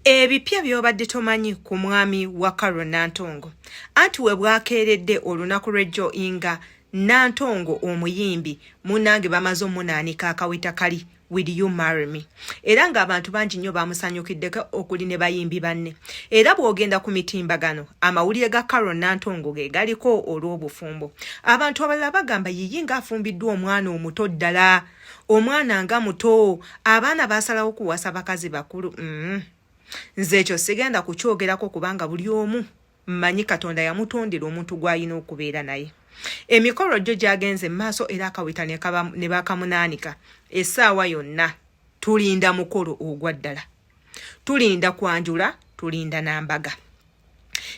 ebipya by'obadde tomanyi ku mwami wa carol nantongo anti we bwakeeredde olunaku lw'ejjo inga nantongo omuyimbi munnange bamaze omunaanika akaweta kali will you marry me era ng'abantu bangi nnyo baamusanyukiddeko okuli ne bayimbi banne era bw'ogenda ku mitimbagano amawulire ga carol nantongo ge galiko olw'obufumbo abantu abalala bagamba yiyi ng'afumbiddwa omwana omuto ddala omwana nga muto abaana basalawo kuwasa bakazi bakulu mm. nze ekyo sigenda kukyogerako kubanga buli omu mmanyi katonda yamutondera omuntu gw'alina okubeera naye emikolo gyo gyagenze mu maaso era akaweta ne bakamunaanika essaawa yonna tulinda mukolo ogwa ddala tulinda kwanjula tulinda n'ambaga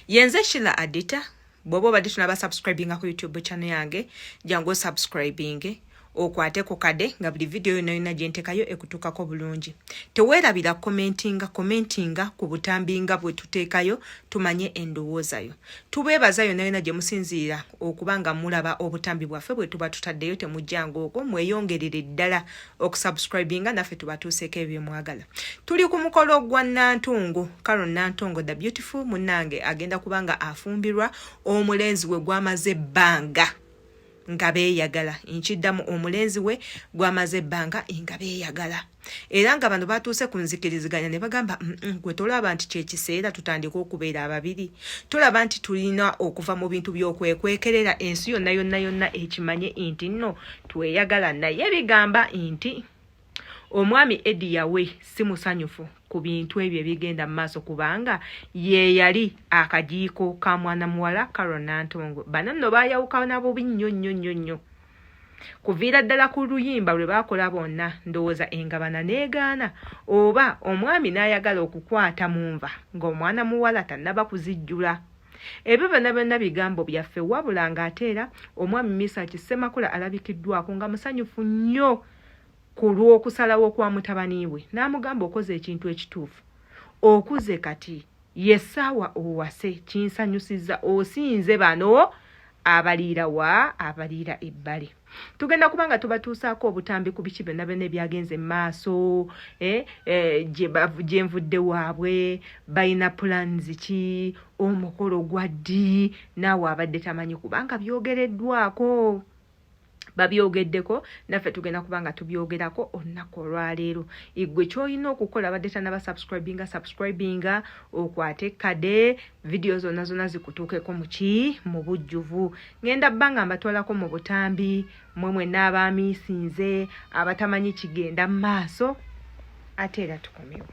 yenze shila adita bwoba obadde tunaba subscribinga ku youtube channel yange jangu osubscribinge okwate ku kade nga buli vidiyo yona yona gyentekayo ekutuukako bulungi teweerabira komentinga komentinga ku butambi nga bwe tuteekayo tumanye endowoozayo tubeebaza yona yona gye musinziira okuba nga mulaba obutambi bwaffe bwe tuba tutaddeyo temujjanga okwo mweyongerere ddala okusubscribinga naffe tubatuuseeko ebyemwagala tuli ku mukolo gwa nantongo caron nantongo the beautiful munange agenda kuba nga afumbirwa omulenzi we gwamaze ebbanga nga beeyagala nkiddamu omulenzi we gwamaze ebbanga nga beeyagala era nga bano batuuse ku nzikiriziganya ne bagamba mm, mm, gwe tolaba nti kyekiseera tutandika okubeera ababiri tolaba nti tulina okuva mu bintu byokwekwekerera ensi yonna yonna yonna ekimanye nti nno tweyagala naye bigamba nti omwami edi yawe si musanyufu ku bintu ebyo ebigenda mu maaso kubanga ye yali akajiiko ka mwana muwala carol nantongo bana nno bayawukana bubi nnyo nnyo nnyo nnyo kuviira ddala ku luyimba lwe baakola bonna ndowooza engabana n'egaana oba omwami n'ayagala okukwata mu nva ng'omwana muwala tannaba kuzijjula Ebyo byonna byonna bigambo byaffe wabula ng'ate era omwami Misaki Ssemakula alabikiddwako nga musanyufu nnyo ku lw'okusalawo kwa mutabani we n'amugamba okoze ekintu ekituufu okuze kati ye ssaawa owase kinsanyusizza osinze bano abaliira wa abaliira ebbali tugenda kuba nga tubatuusaako obutambi ku biki byonna byonna ebyagenze mu maaso eh, eh, gye nvudde waabwe balina pulaanizi ki omukolo gwa ddi naawe abadde tamanyi kubanga byogereddwako babyogeddeko naffe tugenda kuba nga tubyogerako olunaku olwaleero igwe kyolina okukola badde tanaba subscribinga subscribinga okwate kade vidiyo zonna zonna zikutuukeko muki mu bujjuvu ngenda bba nga mbatwalako mu butambi mwe mwenna abaamiisinze abatamanyi kigenda mu maaso ate era tukomewo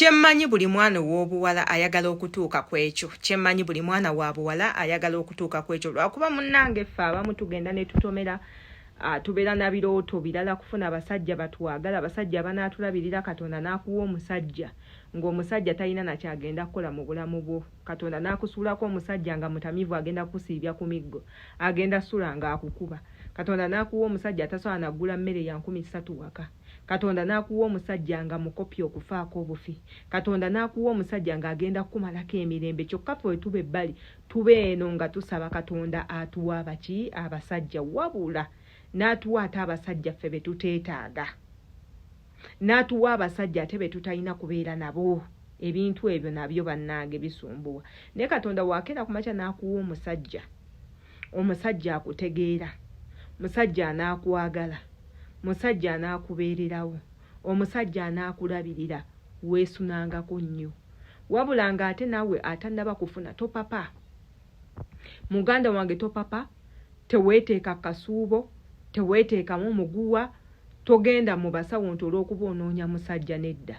kyemmanyi buli mwana ow'obuwala ayagala okutuuka ku ekyo kyemmanyi buli mwana wa buwala ayagala okutuuka ku ekyo lwakuba munnange ffe abamu tugenda ne tutomera ah, tubeera na birooto birala kufuna abasajja batwagala abasajja abanaatulabirira katonda n'akuwa omusajja ng'omusajja talina nakyagenda kukola mu bulamu bwo katonda nakusuulako omusajja nga mutamivu agenda kusiibya ku miggo agenda sula nga akukuba katonda nakuwa omusajja atasobola naggula mmere ya nkumi ssatu waka katonda nakuwa omusajja nga mukopi okufaako obufi katonda nakuwa omusajja nga agenda kukumalako emirembe kyokka fe wetuba ebbali tuba eno nga tusaba katonda atuwa abaki abasajja wabula natuwa ate abasajja ffe betuteetaaga natuwa abasajja ate betutalina kubeera nabo ebintu ebyo nabyo bannange bisumbuwa naye katonda wakeera ku makya nakuwa omusajja omusajja akutegeera musajja anaakwagala musajja anaakubeererawo omusajja anaakulabirira weesunangako nnyo wabula nga ate naawe atannaba kufuna topapa muganda wange topapa Teweeteeka kasuubo, teweeteekamu muguwa, togenda mu basawo nti olw'okuba onoonya musajja nedda.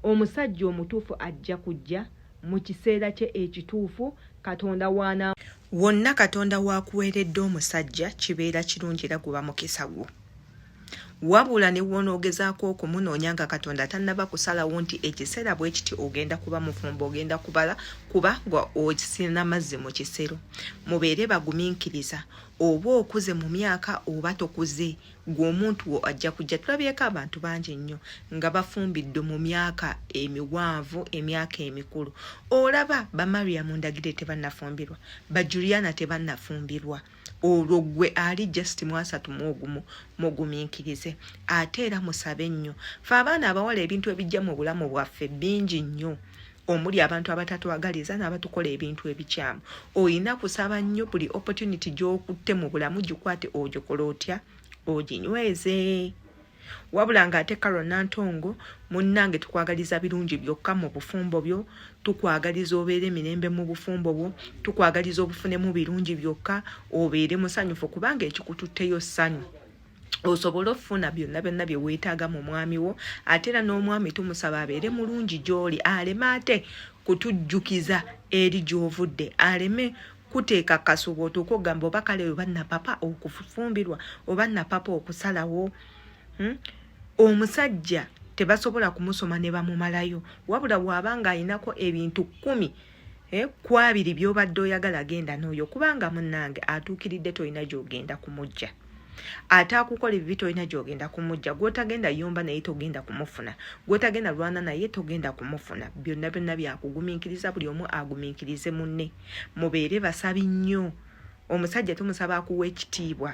Omusajja omutuufu ajja kujja mu kiseera kye ekituufu Katonda w'anaa. Wonna Katonda w'akuweeredde omusajja kibeera kirungi era guba mukisa gwo. wabula ne wonoogezaako okumunoonya nga katonda tannaba kusalawo nti ekiseera bwe kiti ogenda kuba mufumbo ogenda kubala kuba nga osina mazzi mu kisero mubeere bagumiikiriza oba okuze mu myaka oba tokuze gwe omuntu wo ajja kujja tulabyeko abantu bangi nnyo nga bafumbidde mu myaka emiwanvu emyaka emikulu olaba bamariamu ndagire tebannafumbirwa bajuliana tebannafumbirwa olwo gwe ali just mwasatu muogumu mugumiikirize ate era musabe nnyo fe abaana abawala ebintu ebijja mu bulamu bwaffe bingi nnyo omuli abantu abatatwagaliza n'abatukola ebintu ebikyamu olina kusaba nnyo buli opportunity gy'okutte mu bulamu gikwate ogikola otya oginyweze wabula nga ate karo nantongo munnange tukwagaliza birungi byokka mu bufumbo byo tukwagaliza obeere emirembe mu bufumbo bwo tukwagaliza obufunemu birungi byokka obeere musanyufu kubanga ekikututteyo ssanyu osobole okufuna byonna byonna bye weetaaga mu mwami wo ate era n'omwami tumusaba abeere mulungi gy'oli aleme ate kutujjukiza eri gy'ovudde aleme kuteeka kasuuba otuuka okugamba oba kale oba napapa okufumbirwa oba napapa okusalawo hmm? omusajja tebasobola kumusoma ne bamumalayo wabula waaba ng'alinako ebintu kkumi eh, ku abiri by'obadde oyagala genda n'oyo kubanga munnange atuukiridde tolina gy'ogenda kumujja ate akukola ebibi tolina gyogenda kumujja gwotagenda yomba naye togenda kumufuna gwotagenda lwana naye togenda kumufuna byonna byonna byakugumiikiriza buli omu agumiikirize munne mubeere basabi nnyo omusajja tumusaba akuwa ekitiibwa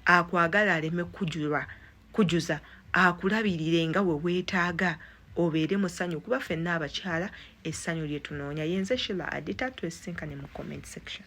akwagala aleme kujulwa kujuza akulabirire nga we weetaaga obeere mu ssanyu kuba fenna abakyala essanyu lye tunoonya yenze shila adita twesinkane mu comment section